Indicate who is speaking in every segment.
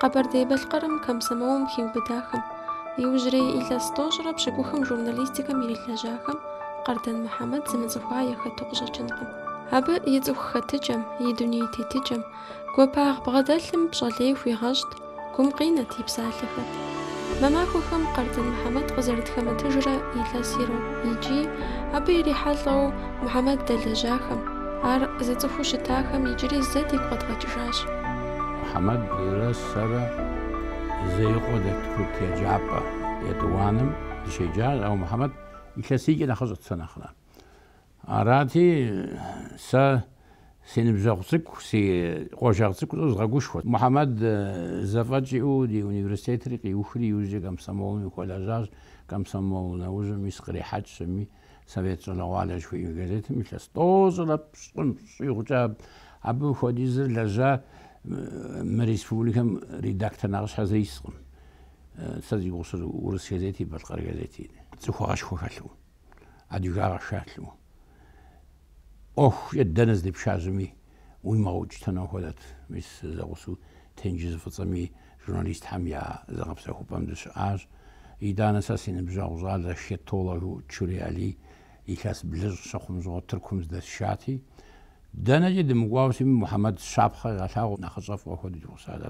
Speaker 1: Къэбэрдей-Балъкъэрым комсомолым хиубыдахэм, иужьрей илъэс тӏощӏрэ пщыкӏухым журналистикэм ирилэжьахэм Къардан Мухьэмэд зымыцӏыхуа яхэту къыщӏэкӏынкъым. Абы и цӏыху хэтыкӏэм, и дуней тетыкӏэм, гуапагъ бгъэдэлъым пщӏэ лей хууигъэщӏт, гум къинэт и псалъэхэр. Мы махуэхэм Къардан Мухьэмэд къызэрытхэмытыжрэ илъэс ирокъу икӏи абы ирихьэлӏэу Мухьэмэд дэлэжьахэм, ар зыцӏыхуу щытахэм иджыри зэ дигу
Speaker 2: къэдгъэкӏыжащ. Мухьэмэдрэ сэрэ Зеикъуэ дэт курыт еджапӏэ етӏуанэм дыщеджащ, ауэ Мухьэмэд илъэсийкӏэ нэхъыщӏэт сэ нэхърэ. Арати, сэ си ныбжьэгъу цӏыкӏу, си къуажэгъу цӏыкӏуу згъэгушхуэт. Мухьэмэд зэфӏэкӏ иӏэу ди университетри къиухри, иужькӏэ комсомолым хуэлэжьащ, комсомол нэужьым мис кърихьэкӏ щыми, Совет щӏалэгъуалэ жыхуиӏэ газетым илъэс тӏощӏрэ пщӏым щӏигъукӏэ абы хуэдизыр лэжьа мы республикэм редактор нэхъыщхьэ зы искъым. Сэ зи гугъу сщӏыр урыс газети, балъкъэр газети. Цӏыхугъэшхуэ хэлъу, адыгагъэ хэлъу, ӏуэхукӏэ дэнэ здепшажьэми, уимыгъэукӏытэну хуэдэт. Мис зэгъусэу тенджыз Фӏыцӏэми журналистхэм я зыгъэпсэхупӏэм дыщыӏащ. Итӏанэ сэ си ныбжьэгъу щӏалэ хеттологыу Чурей Алий илъэс блыщӏ щыхъум щыгъуэ Тыркум здэсшати, дэнэкӏи дымыкӏуауэ щытми Мухьэмэд щапхъэ къигъэлъагъуэу нэхъыщӏэ фӏыуэ хуэдэу ди гъусат.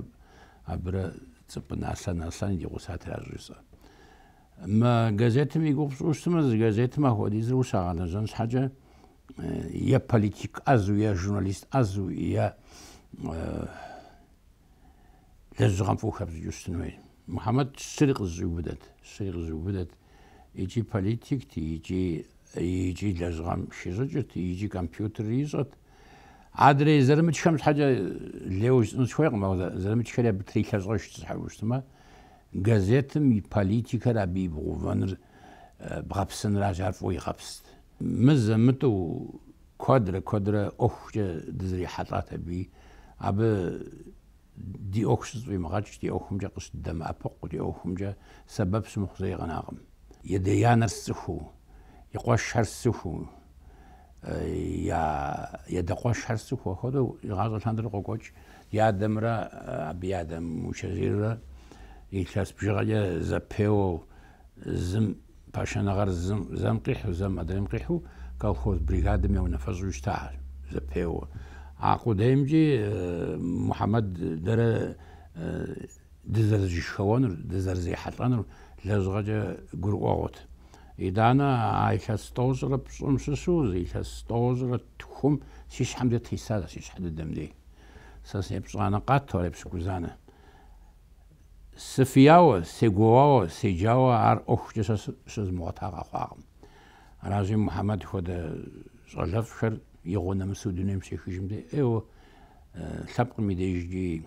Speaker 2: Абырэ Цӏыпӏынэ Аслъэн Аслъэни ди гъусати аращ щӏыжысӏэр. Мы газетым и гугъу пщӏыуэ щытмэ, зы газетым ахуэдизыр ущагъэлэжьэн щхьэкӏэ е политик ӏэзу, е журналист ӏэзу, е лэжьыгъэм фӏыуэ хэпщӏыкӏыу щытын хуей. Мухьэмэд щыри къызыщӏиубыдэт, щыри къызыщӏиубыдэт. Икӏи политикт, икӏи лэжьыгъэм хищӏыкӏырт, икӏи компьютер ищӏырт. Адрей зэрымычхэм щхьэкӏэ лейуэ жысӏэн сыхуейкъым, ауэ зэрымычхэри абы трилъэщӏэжт, щхьэжу щытмэ. Газетым и политикэр абы ибгъэувэныр бгъэпсыныращ, ар фӏыуэ игъэпст. Мызэ-мытӏэу куэдрэ куэдрэ ӏуэхукӏэ дызэрихьэлӏат абы. Абы ди ӏуэху щызэфӏимыгъэкӏ, ди ӏуэхумкӏэ къыщыддэмыӏэпыкъу, ди ӏуэхумкӏэ сэбэп щымыхъу зэи къэнакъым. И адэ-анэр сцӏыхуу, и къуэшхэр сцӏыхуу, и адэ къуэшхэр сцӏыхуу, апхуэдэу игъащӏэ лъандэрэ къокӏуэкӏ ди адэмрэ абы и адэм Мучэзиррэ илъэс бжыгъэкӏэ зэпеуэу, зым пашэныгъэр зым, зэм къихьу, зэм адрейм къихьу колхоз бригадэм я унафэщӏу щытащ зэпеуэу. А къудеймкӏи Мухьэмэд дэрэ Дызэрызышхэуэнур, дызэрызехьэлӏэнур лэжьыгъэкӏэ гурыӏуэгъуэт. Итӏанэ а илъэс тӏощӏрэ пщӏым щыщу зы илъэс тӏощӏрэ тхум си щхьэм дей тесащ, си щхьэ дыдэм дей. Сэ сепщӏанэ къату ар епщыкӏузанэ. Сыфияуэ, сегуоуауэ, седжауэ ар ӏуэхукӏэ сэ щызмыгъуэта къэхъуакъым. Аращи, Мухьэмэд хуэдэ щӏалэфӏхэр игъуэ нэмысу дунейм щехыжым дей ӏейуэ лъэпкъым и дежкӏи,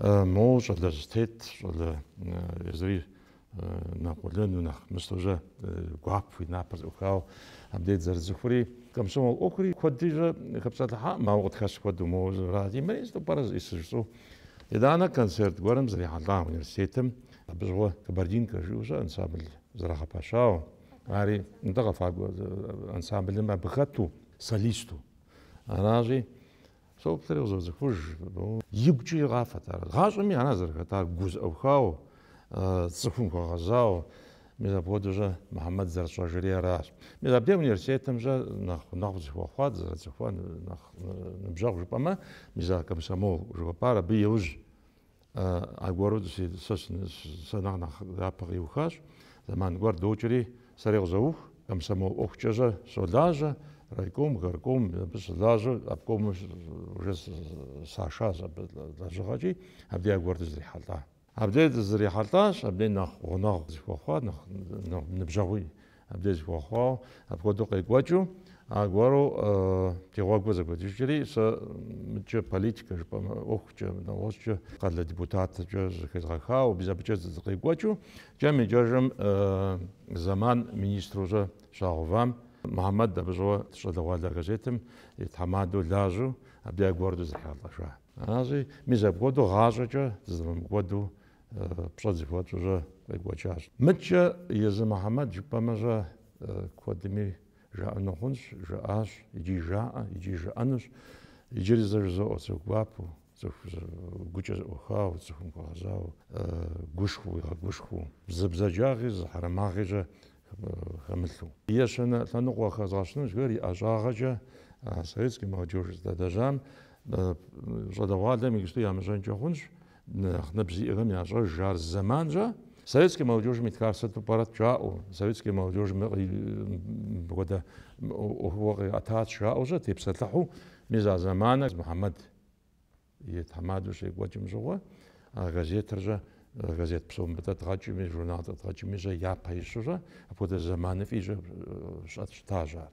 Speaker 3: Мо щӏалэ зэтет-щэ, езыри нэ къуэлэну, нэхъ мыстэу-щэ гуапэу и напэр зэӏухауэ абдеж дызэрыцӏыхури, комсомол ӏуэхури куэдри-щэ хэпсэлъыхьакъым, ауэ къытхэщ куэду моуэ жыра зимыӏэри сыту пӏэрэ зыӏисыж щӏу. Итӏанэ концерт гуэрым зэрихьэлӏа университетым абы щыгъуэ Кабардинка жиӏэу-щэ ансамбль зэрагъэпэщауэ, ари нтӏэ къэфакӏуэ ансамблым абы хэту, солисту аращи, Псэуптэри къызоцӏыхуж. Игукӏэ къафэт ар. Гъащӏэми ара зэрыхэтар, гу зэӏухауэ, цӏыхум хуэгъэзауэ. Мис апхуэдэу-щэ Мухьэмэд зэрытщӏэжри аращ. Мис абдей университетым-щэ нэхъ гъунэгъу зыхуэхъуа, дызэрыцӏыхуар нэхъ ныбжьэгъу жыпӏэмэ, мис а комсомол жыхуэпӏар абы иужь Аргуэру сэ нэхъ нэхъ япэ къиухащ, зэман гуэр докӏри сэри къызоух, комсомол ӏуэхукӏэ-щэ щолажьэ, райком, горком абы щылажьэу обкомым уже сашащ абы лэжьыгъэкӏи, абдей аргуэр дызрихьэлӏа. Абдей дызрихьэлӏащ, абдей нэхъ гъунэгъу зыхуэхъуа, нэхъ ныбжьэгъуи Абдеж зыхуэхъуауэ, апхуэдэу къекӏуэкӏыу, аргуэру ди гъуэгур зэгуэкӏыжри, сэ мыдкӏэ политикэ жыпӏэмэ, ӏуэхукӏэ, нэгъуэщӏкӏэ, къалэ депутаткӏэ зыхезгъэхауэ, мис абыкӏэ сыкъекӏуэкӏыу, кӏэм икӏэжым зэман министру-щэ щагъэувам, Мухьэмэд абы щыгъуэ Щӏалэгъуалэ газетым и тхьэмадэу лажьэу, абдеж аргуэру дызэрихьэлӏэжа. Аращи, мис апхуэдэу гъащӏэкӏэ дызэрымыгъэкӏуэду пщӏэ зэхуэтщӏу-щэ къекӏуэкӏащ. Мыдкӏэ езы Мухьэмэд жыпӏэмэ-щэ куэдми жаӏэну хъунщ, жаӏащ, икӏи жаӏэ, икӏи жаӏэнущ. Иджыри зэ жызоӏэ, цӏыху гуапэу, цӏыху гукӏэ зэӏухауэ, цӏыхум хуэгъэзауэ, гушхуэу, уигъэгушхуэу, зы бзаджагъи, зы хьэрэмыгъи-щэ хэмылъу. Ещанэ лъэныкъуэ хэзгъэщыну жыхэр и ӏэщӏагъэкӏэ а советскэ молодежь здэлэжьам щӏалэгъуалэм иджыпсту ямыщӏэнкӏэ хъунщ, Нэхъ ныбжь зиӏэхэм ящӏэж ар зэман-щэ. Советские молодежым итхар сыту пӏэрэт жаӏэу, советские молодежым мыпхуэдэ ӏуэхугъуэ къиӏэтат жаӏэу-щэ тепсэлъыхьу, мис а зэманыр Мухьэмэд и тхьэмадэу щекӏуэкӏым щыгъуэ, а газетыр-щэ, газет псо мыбы дэдгъэкӏми, журнал дэдгъэкӏми-щэ япэ ищу-щэ, апхуэдэ зэманыфӏи-щэ щыт щытащ ар.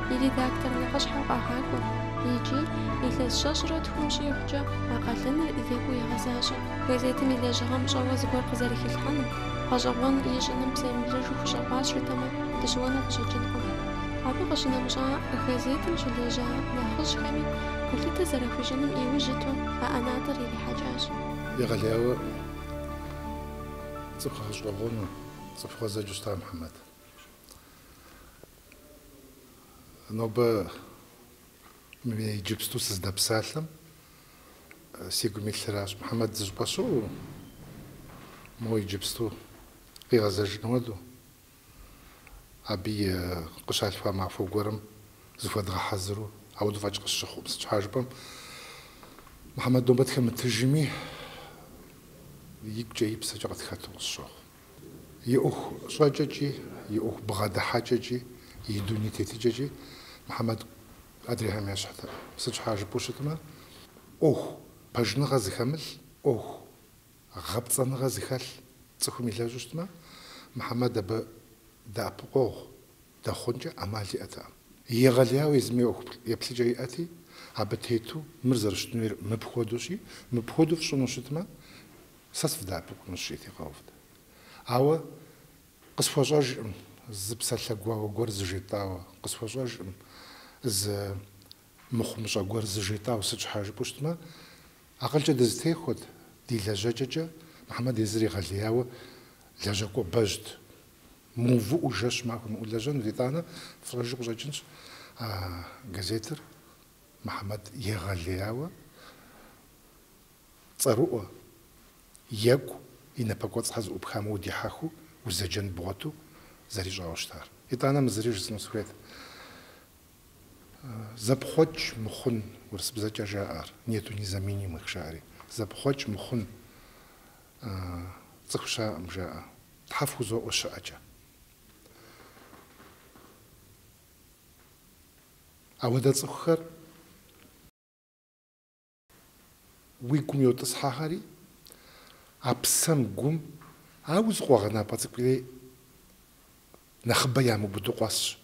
Speaker 1: и редактор нэхъыщхьэу къагъакӏуэ икӏи илъэс щэщӏрэ тхум щӏигъукӏэ а къалэныр зекӏуэ егъэзащӏэ. Газетым и лэжьыгъэм щӏэуэ зыгуэр къызэрыхилъхьэным, гъэщӏэгъуэн ищӏыным псэемыблэжу хущӏэкъуащ жытӏэмэ, дыщыуэну къыщӏэкӏынкъым. Абы къыщынэмыщӏа газетым щылэжьа нэхъыжьхэми гулъытэ зэрахуищӏыным иужь иту а ӏэнатӏэр ирихьэкӏащ. Егъэлеяуэ
Speaker 4: цӏыху гъэщӏэгъуэну цӏыху гъуэзэджэу щыта Мухьэмэд. Нобэ мы иджыпсту сыздэпсалъэм си гум илъыращ, Мухьэмэд зыщӏыпӏэ щыӏэу моуэ иджыпсту къигъэзэжын хуэдэу, абы и къыщалъхуа махуэ гуэрым зыхуэдгъэхьэзыру, ауэдэ фӏэкӏ къысщыхъуӏым. Сыт щхьа жыпӏэм, Мухьэмэд нобэ тхэмытыжми, и гукӏэ и псэкӏэ къытхэту къысщохъу. И ӏуэху щӏэкӏэкӏи, и ӏуэху бгъэдыхьэкӏэкӏи, и дуней тетыкӏэкӏи Мухьэмэд адрейхэм ещхьтэкъым. Сыт щхьа жыпӏэу щытмэ, ӏуэху пэжыныгъэ зыхэмылъ, ӏуэху гъэпцӏэныгъэ зыхэлъ цӏыхум илэжьу щытмэ, Мухьэмэд абы дэӏэпыкъуэгъу дэхъункӏэ ӏэмал иӏэтэкъым. Егъэлеяуэ езыми ӏуэху еплъыкӏэ иӏэти, абы тету мыр зэрыщытын хуейр мыпхуэдэущи, мыпхуэдэу фщӏыну щытмэ, Сэ сывдэӏэпыкъунущ, жиӏэти къэувт. Ауэ къысхуэщӏэжкъым зы псалъэ гуауэ гуэр зыжетӏауэ, къысхуэщӏэжкъым зы мыхъумыщӏэ гуэр зыжетӏауэ. Сыт щхьа жыпӏэу щытмэ, акъылкӏэ дызытехуэт, ди лэжьэкӏэкӏэ Мухьэмэд езыр егъэлеяуэ лэжьакӏуэ бэжьт. Мыувыӏэу жэщ махуэ имыӏэу лэжьэнут, итӏанэ фщӏэжу къыщӏэкӏынщ а газетыр Мухьэмэд егъэлеяуэ. Цӏэрыӏуэ, екӏу, и напэкӏуэцӏхэр зыӏупхамэ удихьэхыу, узэджэн бгъуэту зэрищӏауэ щытар. Итӏанэ мы зыри жысӏэну сыхуейт. Зэпхъуэкӏ мыхъун, урысыбзэкӏэ жаӏэр, нету незаменимых жаӏэри. Зэпхъуэкӏ мыхъун цӏыху щыӏэӏым жаӏэ, Тхьэ фхузоӏуэ щыӏэкӏэ. Ауэдэ цӏыхухэр. Уи гум йотӏысхьэхэри а псэм, гум, ауэ зы къуэгъэнапӏэ цӏыкӏури нэхъыбэ ямыубыду къуэсщ.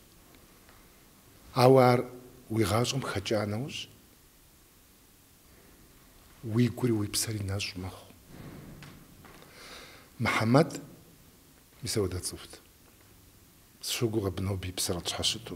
Speaker 4: Ауэ ар уи гъащӏэм хэкӏа нэужь, уи гури уи псэри нэщӏ мэхъу. Мухьэмэд, мис ауэдэ цӏыхут. Сыщогугъ абы нобэ и псэр къытщхьэщыту.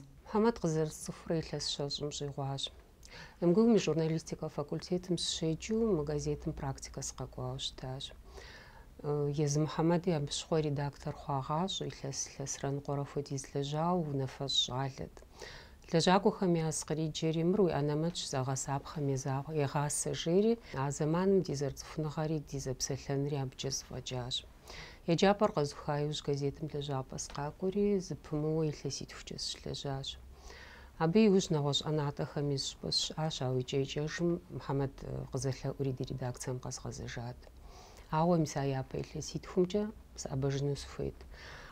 Speaker 5: Мухьэмэд
Speaker 6: къызэрысцӏыхурэ илъэс щэщӏым щӏигъуащ. МГУ-м и журналистикэ факультетым сыщеджэу мы газетым практикэ сыкъэкӏуауэ щытащ. Езы Мухьэмэди абы щыгъуэ редактор хъуагъащӏэ, илъэс илъэсрэ ныкъуэрэ хуэдиз лэжьауэ унафэщӏ щӏалэт. Лэжьакӏуэхэм яз къриджэри, мыр уи анэмэтщ, зэгъэсапхъэм езагъ, егъасэ, жери, а зэманым ди зэрыцӏыхуныгъэри ди зэпсэлъэнри абыкӏэ зыфӏэкӏащ. Еджапӏэр къэзуха иужь газетым лэжьапӏэ сыкъакӏуэри, зыпымыууэ илъэситхукӏэ сыщылэжьащ. Абы иужь нэгъуэщӏ ӏэнатӏэхэми щӏыпӏэ сыщыӏащ, ауэ икӏэ-икӏэжым Мухьэмэд къызэлъэӏури ди редакцэм къэзгъэзэжат. Ауэ мис а япэ илъэситхумкӏэ сыӏэбэжыну сыхуейт.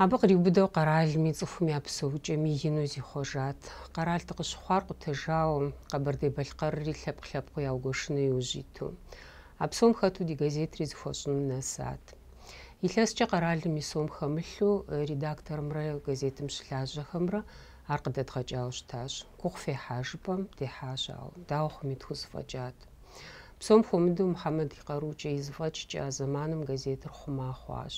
Speaker 6: Абы къриубыдэу къэралми, цӏыхум я псэукӏэми ину зихъуэжат. Къэрал дыкъыщыхъуар къутэжауэ, Къэбэрдей-Балъкъэрри лъэпкъ-лъэпкъыу яугуэшыну иужь иту. А псом хэту ди газетри зыхуэщӏыным нэсат. Илъэскӏэ къэралым и сом хэмылъу редакторымрэ газетым щылажьэхэмрэ ар къыдэдгъэкӏауэ щытащ. Гугъу фехьа жыпӏэм дехьащ, ауэ, дауэ хъуми, тхузэфӏэкӏат. Псом хуэмыдэу Мухьэмэд и къарукӏэ и зэфӏэкӏкӏэ а зэманым газетыр хъума хъуащ.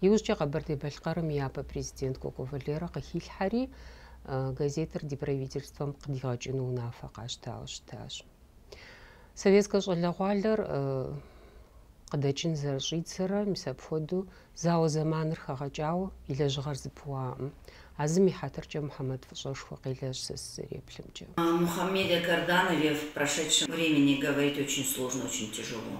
Speaker 6: Иужькӏэ Къэбэрдей-Балъкъэрым и япэ президент Кӏуэкӏуэ Валерэ къыхилъхьэри, газетыр ди правительствэм къыдигъэкӏыну унафэ къащтауэ щытащ. Советскэ щӏалэгъуалэр э, къыдэкӏын зэрыщӏидзэрэ, мис апхуэдэу зауэ зэманыр хэгъэкӏауэ и лэжьыгъэр зыпыуаӏым. А зым и хьэтыркӏэ Мухьэмэд фӏыщӏэшхуэ къелэжь сэ сызэреплъымкӏэ.
Speaker 7: Мухамеде Карданове в прошедшем времени говорить очень сложно, очень тяжело.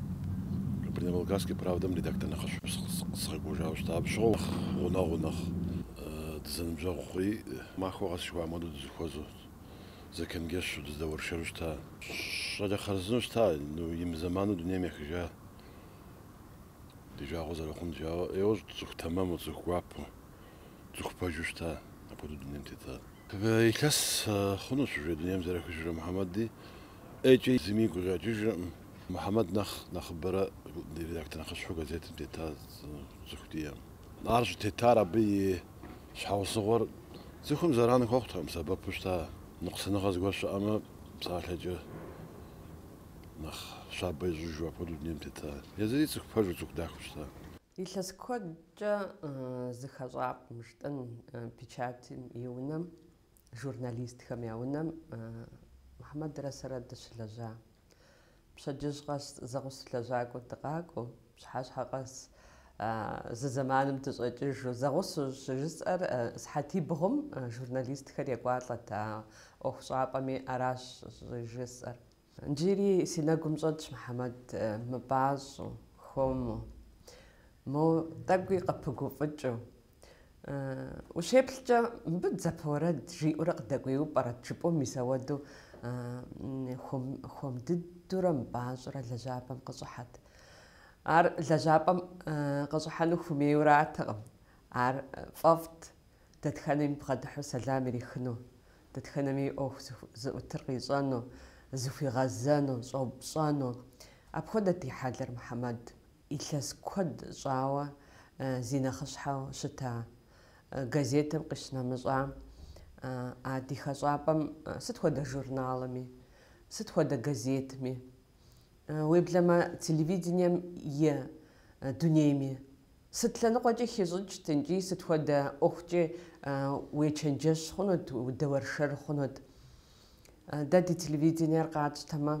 Speaker 8: Кабардино-Балкарская правдэм редактор нэхъыщхьэу сыкъэкӏуэжауэ щытащ. Абы щыгъуэ нэхъ гъунэгъуу, нэхъ дызэныбжьэгъу хъури, махуэ къэс жыхуаӏэм хуэдэу дызыхуэзэу, зэчэнджэщу дыздэуэршэру щыта. Щӏалэ хъарзыну щыта, ну, и мызэману дунейм ехыжа ди жагъуэ зэрыхъун, ӏейуэ цӏыху тэмэму, цӏыху гуапэу, цӏыху пэжу щыта, апхуэдэу дунейм тета. Илъэс хъунущ уже дунейм зэрехыжрэ Мухьэмэди. ӏейкӏэ зыми игу къэкӏыжыркъым. Мухьэмэд нэхъ нэхъыбэрэ редактор нэхъыщхьэу газетым тета цӏыху диӏэкъым. Ар щӏытетар абы и щхьэусыгъуэр цӏыхум зэран хуэхъутэкъым, сэбэпу щыта ныкъусыныгъэ зыгуэр щыӏэмэ, псалъэкӏэ нэхъ щабэ ищӏыжу апхуэдэу дунейм тета. Езыри цӏыху пэжу, цӏыху дахэу щыта. Илъэс
Speaker 9: куэдкӏэ зы хэщӏапӏэм, жытӏэн, печатым и унэм Журналистхэм я унэм Мухьэмэдрэ сэрэ дыщылэжьа. Пщэдджыжь къэс зэгъусэ лэжьакӏуэ дыкъакӏуэу, пщыхьэщхьэ къэс зы зэманым дыщӏэкӏыжу, зэгъусэу щӏыжысӏэр сыхьэтибгъум журналистхэр екӏуалӏэт а ӏуэхущӏапӏэми, аращ щӏыжысӏэр. Джыри си нэгум щӏэтщ Мухьэмэд мыпӏащӏэу, хуэму. Мо тӏэкӏуи къыпыгуфӏыкӏыу. Ущеплъкӏэ, мыбы дзапэ уэрэд жиӏэурэ къыдэкӏуейу пӏэрэт жыпӏэу мис ауэдэу хуэм дыдурэ мыпӏащӏэрэ лэжьапӏэм къыщӏыхьэт. Ар лэжьапӏэм къыщӏыхьэну хуэмейуэ аратэкъым, ар фӏэфӏт. Дэтхэнэми бгъэдыхьу сэлам ирихыну, дэтхэнэми и ӏуэху зыӏутыр къищӏэну, зыхуигъэзэну, щӏэупщӏэну. Апхуэдэт и хьэлыр Мухьэмэд. Илъэс куэд щӏауэ зи нэхъыщхьэу щыта газетым къищынэмыщӏа а ди хэщӏапӏэм сыт хуэдэ журналми, сыт хуэдэ газетми, уеблэмэ телевидением е дунейми Сыт лъэныкъуэкӏи хищӏыкӏт икӏи сыт хуэдэ ӏуэхукӏи уечэнджэщ хъунут, удэуэршэр хъунут. Дэ ди телевидениер къатщтэмэ,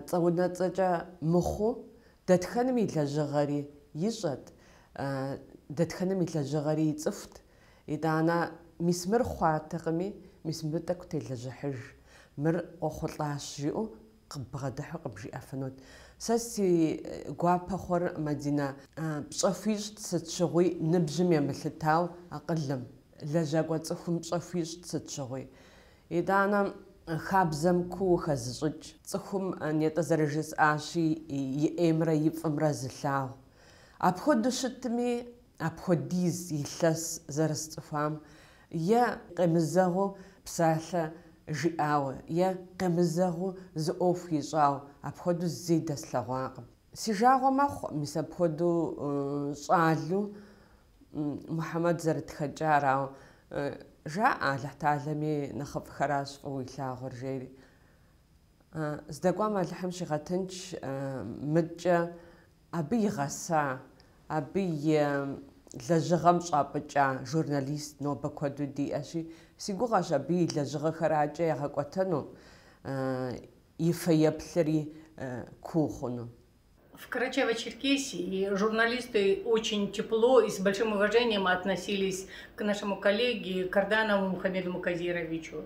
Speaker 9: цӏэ-унэцӏэкӏэ мыхъуу, дэтхэным и лэжьыгъэри ищӏэт, дэтхэным и лэжьыгъэри ицӏыхут. Итӏанэ мис мыр хъуатэкъыми, мис мыбы тӏэкӏу телэжьыхьыж, мыр къохъулӏащ жиӏэу Къыббгъэдыхьу къыбжиӏэфынут. Сэ си гуапэ хъур, Мадинэ, пщӏэ хуищӏт сыт щыгъуи ныбжьым емылъытауэ акъылым, лэжьакӏуэ цӏыхум пщӏэ хуищӏт сыт щыгъуи. Итӏанэ хабзэм куууэ хэзыщӏыкӏ цӏыхум нетӏэ зэрыжысӏащи, и ӏеймрэ и фӏымрэ зылъагъу. Апхуэдэу щытми, апхуэдиз илъэс зэрысцӏыхуам, е къемызэгъыу псалъэ жиӏауэ, е къемызэгъыу зы ӏуэху ищӏауэ, апхуэдэу зэи дэслъэгъуакъым. Си жагъуэ мэхъу, мис апхуэдэу щӏалэу Мухьэмэд зэрытхэкӏар, ауэ жаӏэ Алыхьталэми нэхъыфӏхэращ фӏыуэ илъагъур, жери. Здэкӏуам Алыхьым щигъэтынч, мыдкӏэ Абы игъэса, абы и лэжьыгъэм щӏапӏыкӏа журналист нобэ куэду диӏэщи, си гугъэщ абы и лэжьыгъэхэр адкӏэ ягъэкӏуэтэну, и фэеплъри куу хъуну.
Speaker 10: В Карачаево-Черкесии журналисты очень тепло и с большим уважением относились к нашему коллеге Карданову Мухамеду Муказировичу.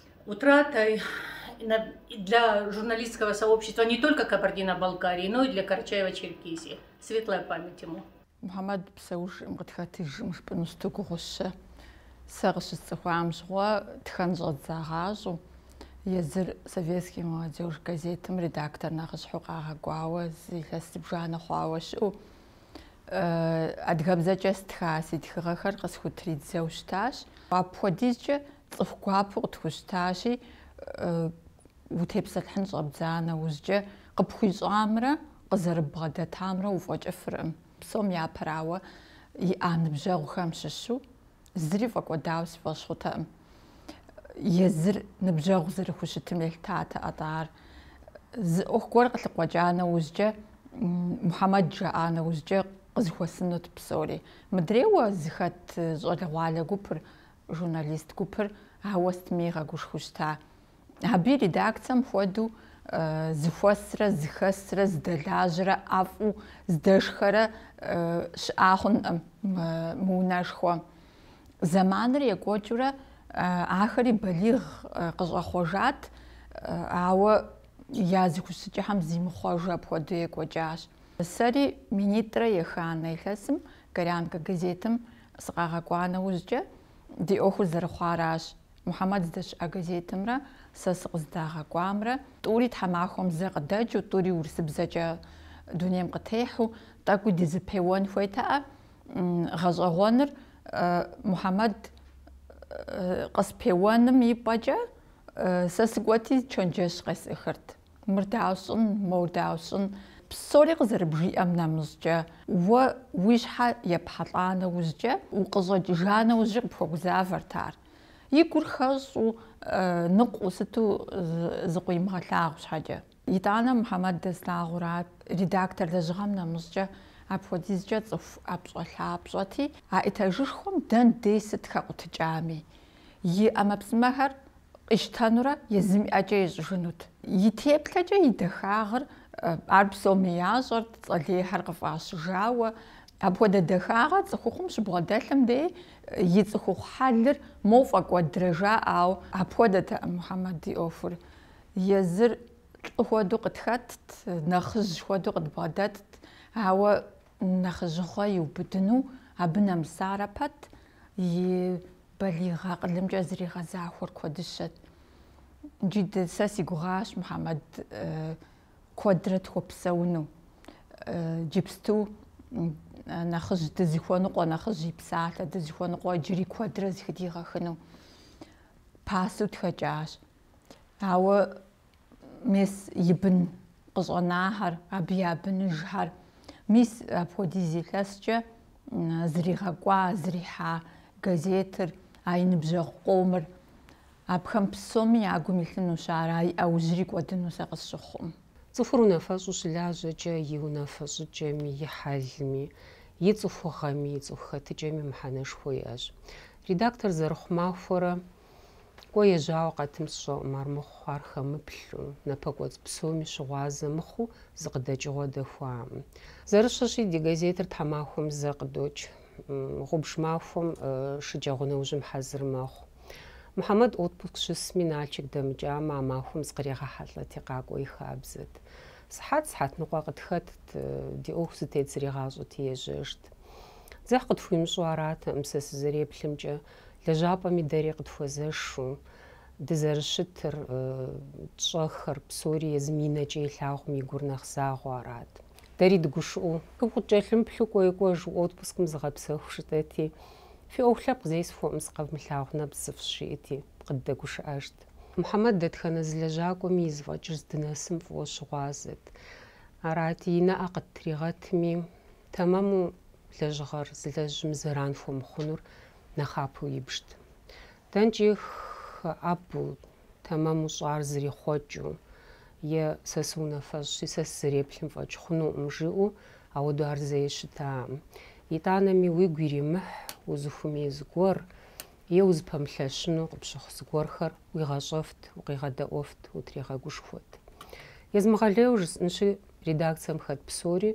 Speaker 10: утратой для журналистского сообщества не только Кабардино-Балкарии, но и для Карачаево-Черкесии. Светлая память ему. Мухьэмэд
Speaker 11: псэужым къытхэтыжым жыпӏэну сыту гугъущэ. Сэ къыщысцӏыхуам щыгъуэ тхэн щӏэдзагъащӏу, езыр советский молодежь газетым редактор нэхъыщхьу къагъэкӏуауэ зы илъэс зыбжанэ хъуауэ щыӏэу, адыгэбзэкӏэ стха си тхыгъэхэр къысхутридзэу щытащ. Апхуэдизкӏэ Цӏыху гуапэу къытхущтащи, утепсэлъыхьын щӏэбдза нэужькӏэ, къыпхуищӏамрэ къызэрыббгъэдэтамрэ уфӏэкӏыфыркъым. Псом япэрауэ, иӏа ныбжьэгъухэм щыщу зыри фӏэкӏуэдауэ си фӏэщ хъутэкъым. Езыр ныбжьэгъу зэрыхущытым елъытатэӏэ тӏэ ар. Зы ӏуэху гуэр къылъыкъуэкӏа нэужькӏэ, Мухьэмэд жаӏа нэужькӏэ къызыхуэсынут псори. Мыдрейуэ зыхэт щӏалэгъуалэ гупыр журналист гупыр ауэ сытми игъэгушхуэу щыта. Абы и редакцием хуэдэу зыхуэсрэ зыхэсрэ здэлажьэрэ ӏэфӏу здэшхэрэ щыӏа хъункъым мы унэшхуэм. Зэманыр екӏуэкӏыурэ ахэри балигъ къыщӏэхъуэжат, ауэ я зыхущытыкӏэхэм зимыхъуэжу апхуэдэу екӏуэкӏащ. Сэри минитӏрэ еханэ илъэсым Горянка газетым сыкъагъэкӏуа нэужькӏэ ди ӏуэхур зэрыхъуаращ. Мухьэмэд здэщыӏэ газетымрэ сэ сыкъыздагъэкӏуамрэ тӏури тхьэмахуэм зэ къыдэкӏыу, тӏури урысыбзэкӏэ дунейм къытехьу, тӏэкӏуи дызыпеуэн хуейтэӏэ. Гъэщӏэгъуэныр Мухьэмэд къыспеуэным и пӏэкӏэ сэ сыкӏуэти чэнджэщ къесӏыхырт. Мыр дауэ сщӏын, моуэ дауэ сщӏын. Псори къызэрыбжиӏэм нэмыщӏкӏэ, уэ уи щхьэ епхьэлӏа нэужькӏэ, укъыщӏэкӏыжа нэужькӏэ къыпхуэгузавэрт ар. И гур хэщӏу, ныкъуэу сыту зыкъыуимыгъэлъагъу щхьэкӏэ. Итӏанэ Мухьэмэд дэслъагъурат, редактор лэжьыгъэм нэмыщӏкӏэ, апхуэдизкӏэ цӏыху ӏэпщӏэлъапщӏэти, а этажышхуэм дэн дей сыт хэкъутыкӏами. и ӏэмэпсымэхэр къищтэнурэ езым и ӏэкӏэ ищӏыжынут. И теплъэкӏэ и дахагъыр ар псоми ящӏэрт, цӏэ лейхэр къыфӏащыжауэ. Апхуэдэ дахагъэр цӏыхухъум щыбгъэдэлъым дей и цӏыхухъу хьэлыр моуэ фӏэкӏуэдрэ жаӏауэ апхуэдэтэкъым Мухьэмэд и ӏуэхур. Езыр лӏы хуэдэу къытхэтт, нэхъыжь хуэдэу къыдбгъэдэтт, ауэ нэхъыжьыгъуэ иубыдыну абы нэмысарэ пэт и Балигъ акъылымкӏэ зригъэзахуэр куэдыщэт. Иджы сэ си гугъащ Мухьэмэд куэдрэ тхуэпсэуну. Иджыпсту нэхъыжь дызыхуэныкъуэ, нэхъыжь и псалъэ дызыхуэныкъуэ иджыри куэдрэ зыхыдигъэхыну пасэу тхэкӏащ. Ауэ мес и бын къыщӏэнахэр, абы я быныжхэр. Мис апхуэдиз илъэскӏэ зригъэкӏуа, зрихьа газетыр, а и ныбжьэгъу къомыр. Абыхэм псоми я гум илъынущ ар, а и ӏэужьри кӏуэдыну сэ къысщыхъукъым. Цӏыхур
Speaker 6: унафэщӏу щылажьэкӏэ и унафэ щӏыкӏэми, и хьэлми, и цӏыхугъэми, и цӏыху хэтыкӏэми мыхьэнэшхуэ иӏэщ. Редактор зэрыхъу махуэрэ Кӏуэ ежьауэ къэтым сщӏэкъым армыхъу ар хэмыплъу, напэкӏуэцӏ псоми щыгъуазэ мыхъуу зы къыдэкӏыгъуэ дэхуаӏым. Зэрытщӏэщи, ди газетыр тхьэмахуэм зэ къыдокӏ. Гъубж махуэм шэджагъуэ нэужьым хьэзыр мэхъу. Мухьэмэд отпуск щысми, Налчык дэмыкӏамэ, а махуэм зыкъригъэхьэлӏэти къакӏуэ и хабзэт. Сыхьэт сыхьэт ныкъуэ къытхэтт, ди ӏуэху зытет зригъащӏэти ежьэжт. Дзыхь къытхуимыщӏу аратэкъым сэ сызэреплъымкӏэ, Лэжьапӏэми дэри къытхуэзэшу, дызэрыщытыр, тщӏэхэр псори езым и нэкӏэ илъагъум и гур нэхъ загъуэ арат. Дэри дыгушыӏэу. Укъыткӏэлъымыплъу кӏуэи кӏуэжу отпускым зыгъэпсэху жытӏэти, фи ӏуэху лъэпкъ зесхуэӏым сыкъэвмылъагъу нэпцӏ зыфщӏ, жиӏэти, къыддэгушыӏэжт. Мухьэмэд дэтхэнэ зы лэжьакӏуэми и зэфӏэкӏыр здынэсым фӏыуэ щыгъуазэт. Арати, и нэӏэ къыттригъэтми, тэмэму лэжьыгъэр зылэжьым зэран хуэмыхъунур нэхъапэу ибжт. Дэнкӏи хэӏэбу, тэмэму щӏар зэрихъуэкӏыу, е сэ сыунафэщӏщи, сэ сызэреплъым фӏэкӏ хъунукъым, жиӏэу ауэду ар зэи щытакъым. Итӏанэми уигу иримыхь узыхуэмей зыгуэр е узыпэмылъэщыну къыпщыхъу зыгуэрхэр уигъэщӏэфт, укъигъэдэӏуэфт, утригъэгушхуэт. Езмыгъэлейуэ жысӏэнщи, редакцием хэт псори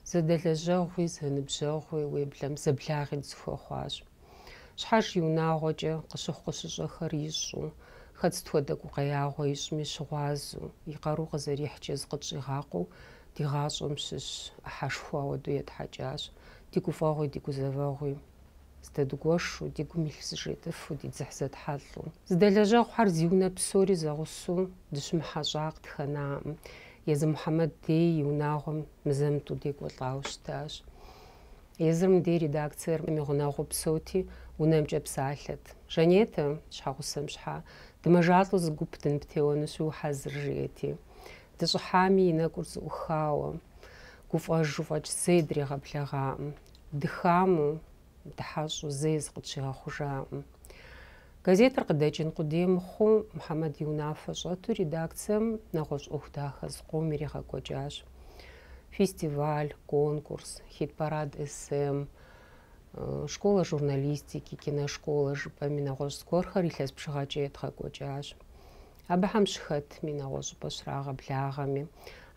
Speaker 6: Зэдэлэжьэгъуи зэныбжьэгъуи уеблэмэ, зэблагъи дызэхуэхъуащ. Щхьэж и унагъуэкӏэ къыщыхъу къыщыщӏэхэр ищӏу, хэт сыт хуэдэ гукъеягъуэ ищӏми щыгъуазэу, и къару къызэрихькӏэ зыкъытщӏигъакъуэу ди гъащӏэм щыщ ӏыхьэшхуэ ауэдэу етхьэкӏащ, ди гуфӏэгъуи ди гузэвэгъуи. Зэдэдгуэшу, ди гум илъ зэжетӏэфу, ди дзыхь зэтхьэлӏэу. Зэдэлэжьэгъухэр зи унэ псори зэгъусэу дыщымыхьэщӏа къытхэнакъым. Езы Мухьэмэд дей и унагъуэм мызэ-мытӏу декӏуэлӏауэ щытащ. Езырым дей редакциер и гъунэгъуу псэути, унэмкӏэ псалъэт. Жанетэ, щхьэгъусэм щхьа, дымэжалӏэу зы гуп дыныптеуэнущи ухьэзыр, жети. Дыщӏыхьами, и нэкӏур зэӏухауэ, гуфӏэжу фӏэкӏ зэи дригъэблэгъакъым. Дыхаму, дыхьэщӏу зэи зыкъытщигъэхъужаӏым. Газетыр къыдэкӏын къудей мыхъуу, Мухьэмэд и унафэ щӏэту редакцием нэгъуэщӏ ӏуэху дахэ зыкъом иригъэкӏуэкӏащ. Фестиваль, конкурс, хит-парад СМ, школа журналистики, киношкола жыпӏэми нэгъуэщӏ зыгуэрхэр илъэс бжыгъэкӏэ едгъэкӏуэкӏащ. Абыхэм щыхэтми, нэгъуэщӏыпӏэ щрагъэблагъэми,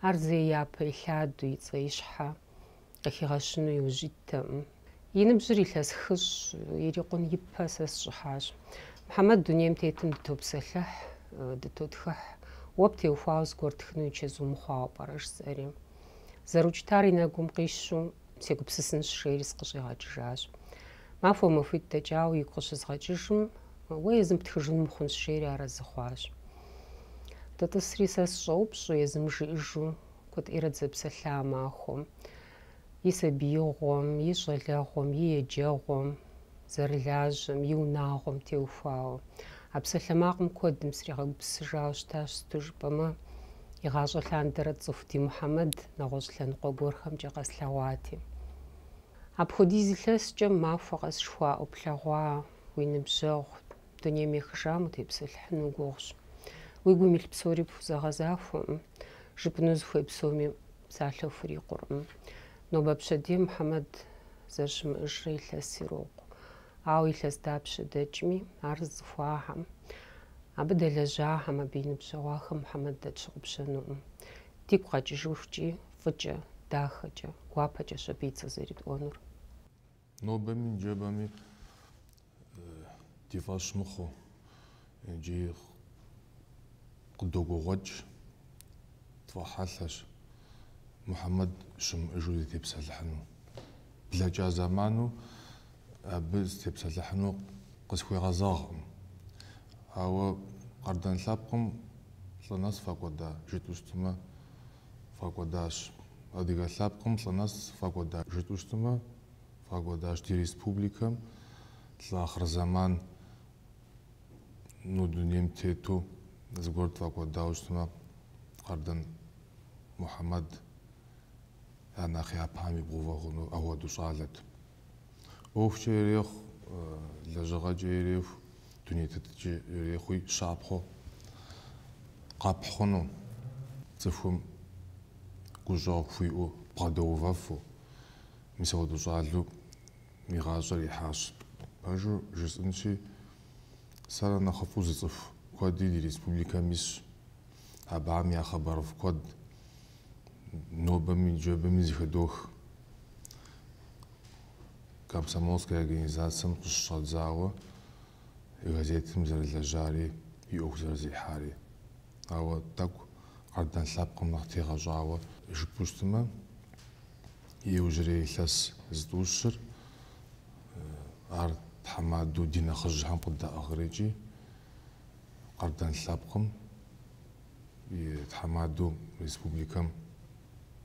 Speaker 6: ар зэи япэ илъаду и цӏэ и щхьэ Къыхигъэщыну иужь иттэкъым. И ныбжьыр илъэс хыщӏ, ирикъун ипэ сэ сщӏыхьащ. Мухьэмэд дунейм тетым дытопсэлъыхь, дытотхыхь. Уэ птеухуауэ зыгуэр тхыну и чэзу мыхъуауэ пӏэрэ? жысӏэри. Зэрыукӏытар и нэгум къищу, сегупсысынщ, жери сыкъыщӏигъэкӏыжащ. Махуэ махуитӏ дэкӏауэ игу къыщызгъэкӏыжым, Уэ езым птхыжын мыхъунщ, жери арэзы хъуащ. Дытӏысри сэ сыщӏэупщӏэу, езым жиӏэжу, Куэдыӏуэрэ дызэпсэлъа махуэм и сабиигъуэм, и щӏалэгъуэм, и еджэгъуэм, зэрылажьэм, и унагъуэм теухуауэ. А псалъэмакъым куэдым сригъэгупсысыжауэ щытащ, сыту жыпӏэмэ, игъащӏэ лъандэрэ сцӏыху ди Мухьэмэд нэгъуэщӏ лъэныкъуэ гуэрхэмкӏэ къэслъэгъуати. Апхуэдиз илъэскӏэ махуэ къэсыху уӏуплъэгъуа уи ныбжьэгъу. дунейм ехыжам утепсэлъыхьыну гугъущ. Уи гум илъ псори пхузэгъэзахуэкъым, жыпӏэну узыхуей псоми псалъэ хурикъуркъым. Нобэ пщэдей Мухьэмэд зэрыщымыӏэжрэ илъэс ирокъу. Ауэ илъэс дапщэ дэкӏми, ар зыцӏыхуахэм, абы дэлэжьахэм, абы и ныбжьэгъуахэм Мухьэмэд дэ тщыгъупщэнукъым. Дигу къэкӏыжыхукӏи, фӏыкӏэ, дахэкӏэ, гуапэкӏэщ абы и цӏэ зэритӏуэнур.
Speaker 12: Нобэми ныжэбэми ди фӏэщ мыхъуу иджы къыдогугъуэкӏ тфӏэхьэлъэщ Мухьэмэд щымыӏэжу дытепсэлъыхьыну. Блэкӏа зэману абы сытепсэлъыхьыну къысхуегъэзэгъкъым. Ауэ Къардэн лъэпкъым лӏы нэс фӏэкӏуэда жытӏэу щытмэ, фӏэкӏуэдащ. Адыгэ лъэпкъым лӏы нэс фӏэкӏуэда жытӏэу щытмэ, фӏэкӏуэдащ ди республикэм лӏы ахъырзэман ну дунейм тету зыгуэр тфӏэкӏуэдауэ щытмэ, Къардэн Мухьэмэд я нэхъ япэм ибгъэувэ хъуну апхуэдэу щӏалэт. ӏуэхукӏэ ирехъу, лэжьыгъэкӏэ ирехъу, дуней тетыкӏэ ирехъуи щапхъэу къэпхь хъуну, цӏыхум гущӏэгъу хуиӏэу, бгъэдэувэфу. Мис апхуэдэу щӏалэу и гъащӏэр ихьащ. Пэжу жысӏэнщи, сэр нэхъыфӏу зыцӏыху куэди ди республикэм исщ. Абыхэм я хъыбарыфӏ куэд нобэми ныжэбэми зэхыдох. Комсомольскэ организацэм къыщыщӏадзауэ газетым зэрылэжьари и ӏуэху зэрызэрихьари. Ауэ тӏэкӏу Къардэн лъэпкъым нэхъ тегъэщӏауэ жыпӏэу щытмэ, иужьрей илъэс зытӏущыр ар тхьэмадэу ди нэхъыжьхэм къыддаӏыгърикӏи, Къардэн лъэпкъым и тхьэмадэу республикэм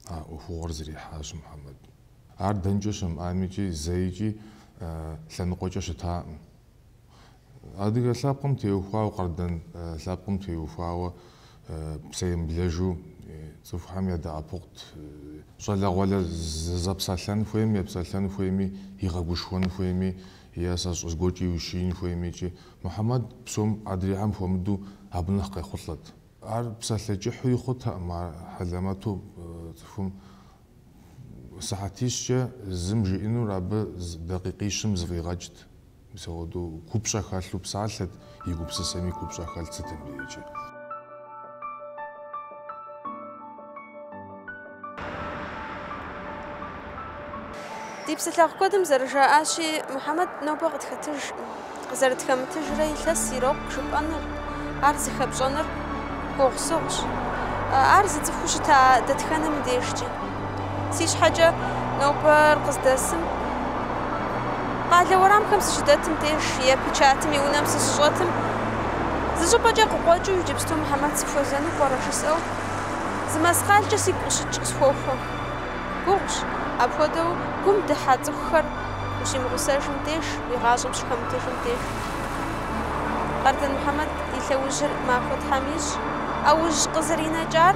Speaker 12: а ӏуэхугъуэр зэрихьащ Мухьэмэд. Ар дэнкӏэ щымыӏамикӏи зэикӏи лъэныкъуэкӏэ щытаӏым. Адыгэ лъэпкъым теухуауэ, къардэн лъэпкъым теухуауэ псэемыблэжу цӏыхухэм ядэӏэпыкъут, щӏалэгъуалэ зэпсэлъэн хуейми, епсэлъэн хуейми, игъэгушхуэн хуейми Е сэ сщӏэ, зыгуэркӏэ иущиин хуеймикӏи, Мухьэмэд псом адрейхэм хуэмыдэу абы нэхъ къехъулӏэт. Ар псалъэ кӏыхьуи хъутэкъым, а хьэлэмэту цӏыхум сыхьэтищкӏэ зым жиӏэнур абы дакъикъищым зэфӏигъэкӏт. Мис апхуэдэу купщӏэ хэлъу псалъэт. И гупсысэми купщӏэ хэлът сытым
Speaker 1: дежкӏи. Ди псэлъэгъу куэдым зэрыжаӏащи, Мухьэмэд нобэ къытхэтыж, къызэрытхэмытыжрэ илъэс ирокъу жыпӏэныр, ар зыхэпщӏэныр гугъусыгъущ. Ар зыцӏыхуу щыта дэтхэнэми дежкӏи. Си щхьэкӏэ нобэр къыздэсым, къалэ уэрамхэм сыщыдэтым деж е печатым и унэм сыщыщӏэтым, зы щӏыпӏэкӏэ къыкъуэкӏыу иджыпсту Мухьэмэд сыхуэзэну пӏэрэ жысӏэу, зы мэскъалкӏэ сигу къыщыкӏ къысхуохуэ. Гугъущ, апхуэдэу гум дыхьэ цӏыхухэр ущимыгъусэжым деж, уи гъащӏэм щыхэмытыжым деж. Къардэн Мухьэмэд и лъэужьыр махуэ Тхьэм ищӏ, ӏэужь къызэринэкӏар